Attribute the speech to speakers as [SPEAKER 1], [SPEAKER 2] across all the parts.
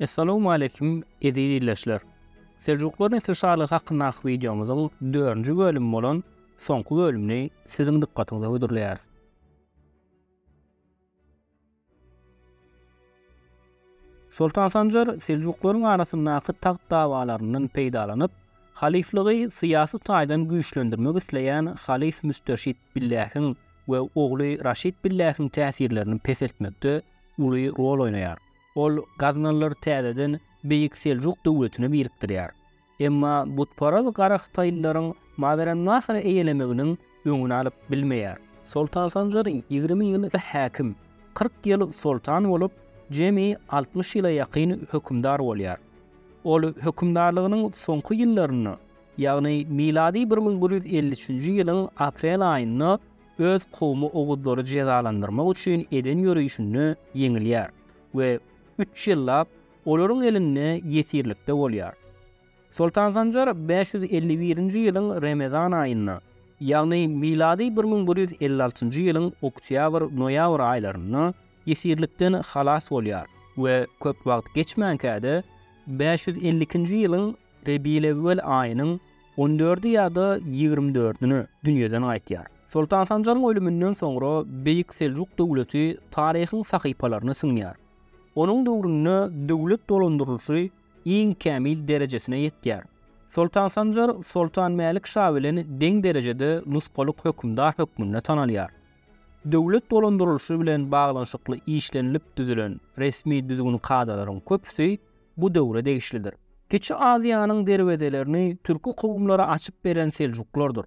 [SPEAKER 1] Essalawmu aleýkum eziz ildeşler. Seljuklar nesli şalygy hakyndaky wideomyzyň dördünji bölümi bolan soňky bölümini siziň dykgatyňyza hödürleýäris. Soltan Sanjar seljuklaryň arasyndaky tagt dawalaryndan peýdalanyp, halyflygy syýasy taýdan güýçlendirmek isleýän halyf Müsterşit Billähiň we ogly Raşid Billähiň täsirlerini peseltmekde uly rol oýnaýar. Ol gaznalylar täzeden Beýik Seljuk döwletine birikdirýär. Emma butparaz gara hytaýlylaryň Mawerannahry eýelemeginiň öňüni alyp bilmeýär. Soltan Sanjar ýigrimi ýyl häkim, kyrk ýyl soltan bolup, jemi altmyş ýyla ýakyn hökümdar bolýar. Ol hökümdarlygynyň soňky ýyllarynda, ýagny milady bir müň bir ýüz elli üçünji ýylyň aprel aýynda öz kowumy oguzlary jezalandyrmak üçin eden ýörişinde ýeňilýär we üç ýyllap olaryň elinde ýesirlikde bolýar. Soltan Sanjar bäş ýüz elli birinji ýylyň Remezan aýynda, ýagny milady bir müň bir ýüz elli altynjy ýylyň oktýabr-noýabr aýlarynda ýesirlikden halas bolýar we köp wagt geçmänkä-de, bäş ýüz elli ikinji ýylyň Rebiýlewwel aýynyň on dördi ýa-da ýigrimi dördüne dünýeden gaýtýar. Soltan Sanjaryň ölüminden soňra Beýik Seljuk döwleti taryhyň sahypalaryna siňýär. Onuň döwründe döwlet dolandyrylyşy iň kämil derejesine ýetýär. Soltan Sanjar Soltan Mälik şa bilen deň derejede nusgalyk hökümdar hökmünde tanalýar. Döwlet dolandyrylyşy bilen baglanyşykly işlenilip düzülen resmi düzgün-kadalaryň köpüsi bu döwre degişlidir. Kiçi Aziýanyň derwezelerini türki kowumlara açyp beren seljuklardyr.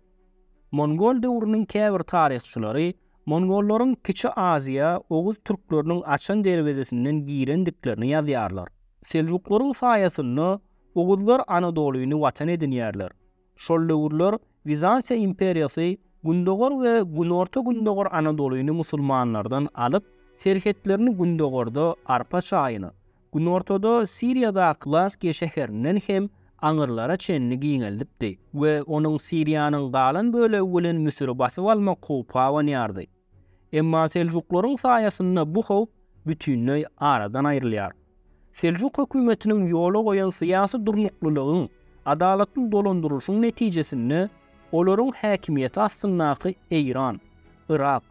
[SPEAKER 1] Mongol döwrüniň käbir taryhçylary Mongollaryň Kiçi Aziýa oguz türkleriniň açan derwezesinden girendiklerini ýazýarlar. Seljuklaryň saýasynda oguzlar Anadolyny watan edinýärler. Şol döwürler Wizantiýa imperiýasy gündogar we günorta-gündogar Anadolyny musulmanlardan alyp, serhetlerini gündogarda arpa çaýyny, Günortada Siriýadaky Laskiýa şäherinden hem aňyrlara çenli giňeldipdi we onuň Siriýanyň galan bölegi bilen Müsüri basyp almak howpy abanýardy. Emma seljuklaryň saýasynda bu howp bütinleý aradan aýrylýar. Seljuk hökümetiniň ýola goýan syýasy durnuklylygyň, adalatly dolandyrylyşyň netijesinde olaryň häkimiýeti astyndaky Eýran, Yrak,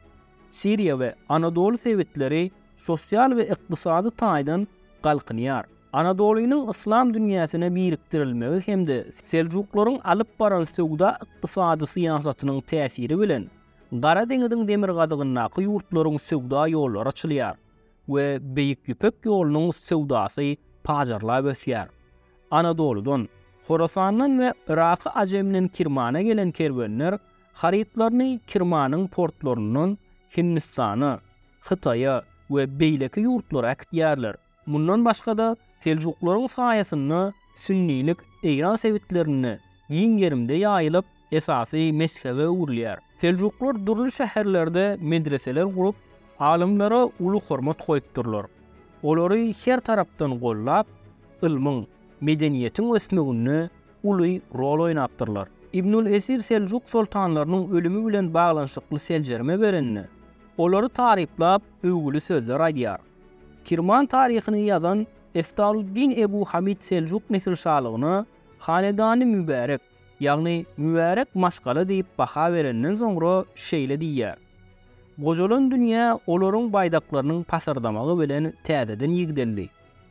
[SPEAKER 1] Siriýa we Anadoly sebitleri sosial we ykdysady taýdan galkynýar. Anadolynyň yslam dünýäsine birikdirilmegi hem-de seljuklaryň alyp baran söwda-ykdysady syýasatynyň täsiri bilen Gara deňiziň demirgazygyndaky ýurtlaryň söwda ýollary açylýar we Beýik Ýüpek ýolunyň söwdasy pajarlap ösýär. Anadolydan, Horasandan we Yraky Ajemden Kirmana gelen kerwenler Harytlaryny Kirmanyň portlaryndan Hindistana, Hytaýa we beýleki ýurtlara äkitýärler. Mundan başga-da, seljuklaryň saýasynda sünnilik Eýran sebitlerinde giň gerimde ýaýylyp, esasy mezhebe öwrülýär. Seljuklar dürli şäherlerde medreseler gurup, alymlara uly hormat goýupdyrlar. Olary her tarapdan gollap, ylmyň, medeniýetiň ösmeginde uly rol oýnapdyrlar. Ibnül Esir Seljuk soltanlarynyň ölümi bilen baglanyşykly seljerme berende, olary taryplap, öwgüli sözler aýdýar. Kirman taryhyny ýazan Eftaluddin Ebu Hamid Seljuk nesilşalygyna Hanedany Mübärek, ýagny Mübärek maşgala diýip baha berenden soňra şeýle diýýär, Gojalan dünýä olaryň baýdaklarynyň pasyrdamagy bilen täzeden ýigdeldi.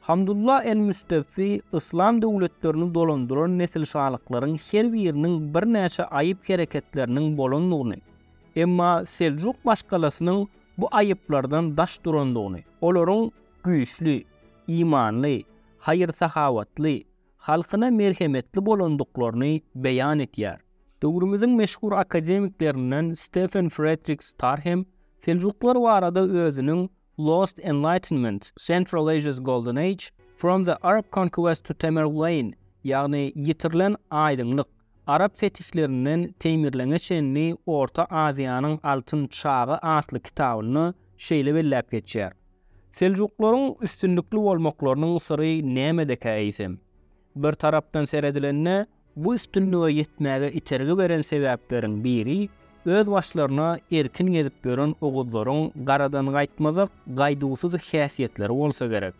[SPEAKER 1] Hamdullah el-Müstewfi yslam döwletlerini dolandyran nesilşalyklaryň her biriniň birnäçe aýyp hereketleriniň bolandygyny, emma Seljuk maşgalasynyň bu aýyplardan daş durandygyny, olaryň güýçli, imanly, haýyr-sahawatly, halkyna merhemetli bolandyklaryny beýan etýär. Döwrümiziň meşhur akademiklerinden Stefen Fredrik Star hem seljuklar barada özüniň Lost Enlightenment, Central Asia's Golden Age, From the Arab Conquest to Tamerlane, ýagny Ýitirilen aýdyňlyk, Arap fetihlerinden Teýmirleňe çenli Orta Aziýanyň altyn çagy atly kitabynda şeýle belläp geçýär, Seljuklaryň üstünlikli bolmaklarynyň syry nämedekä eýsem? Bir tarapdan seredilende, bu üstünlige ýetmäge itergi beren sebäpleriň biri öz başlaryna erkin gezip ýören oguzlaryň garadangaýtmazak gaýduwsyz häsiýetleri bolsa gerek.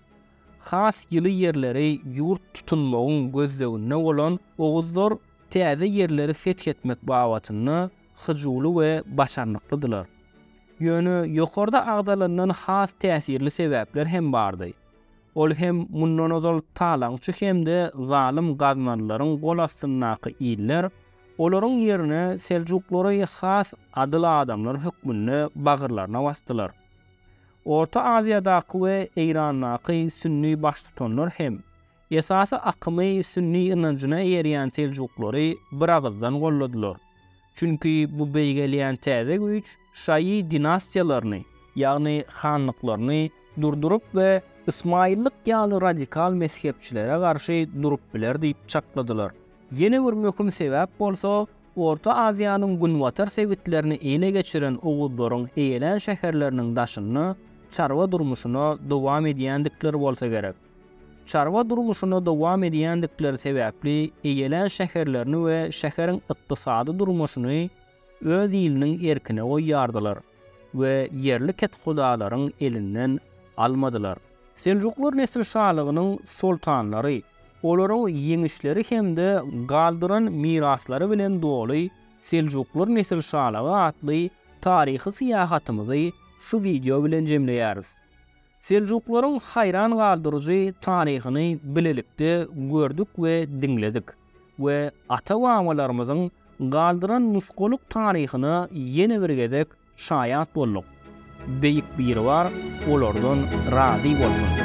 [SPEAKER 1] Has ýyly ýerleri ýurt tutunmagyň gözleginde bolan oguzlar täze ýerleri feth etmek babatynda hyjuwly we başarnyklydylar. Ýöne ýokarda agzalandan has täsirli sebäpler hem bardy. Ol hem mundan ozal talaňçy hem-de zalym gaznalylaryň gol astyndaky iller, olaryň ýerine seljuklary has adyl adamlar hökmünde bagyrlaryna basdylar. Orta Aziýadaky we Eýrandaky sünni baştutanlar hem, esasy akymy sünni ynanjyna eýerýän seljuklary biragyzdan golladylar. Çünki bu beýgelýän täze güýç şaýy dinastiýalaryny, ýagny hanlyklaryny durduryp we ysmaýyllyk ýaly radikal mezhepçilere garşy durup biler diýip çakladylar. Ýene bir möhüm sebäp bolsa, Orta Aziýanyň günbatar sebitlerini ele geçiren oguzlaryň eýelän şäherleriniň daşynda çarwa durmuşyna dowam edýändikleri bolsa gerek. Çarwa durmuşyny dowam edýändikleri sebäpli eýelän şäherlerini we şäheriň ykdysady durmuşyny öz iliniň erkine goýýardylar we ýerli kethudalaryň elinden almadylar. Seljuklar nesilşalygynyň soltanlary, olaryň ýeňişleri hem-de galdyran miraslary bilen doly Seljuklar nesilşalygy atly taryhy syýahatymyzy şu wideo bilen jemleýäris. Seljuklaryň haýran galdyryjy taryhyny bilelikde gördük we diňledik we ata-babalarymyzyň galdyran nusgalyk taryhyna ýene bir gezek şaýat bolduk. Beýik Biribar olardan razy bolsun!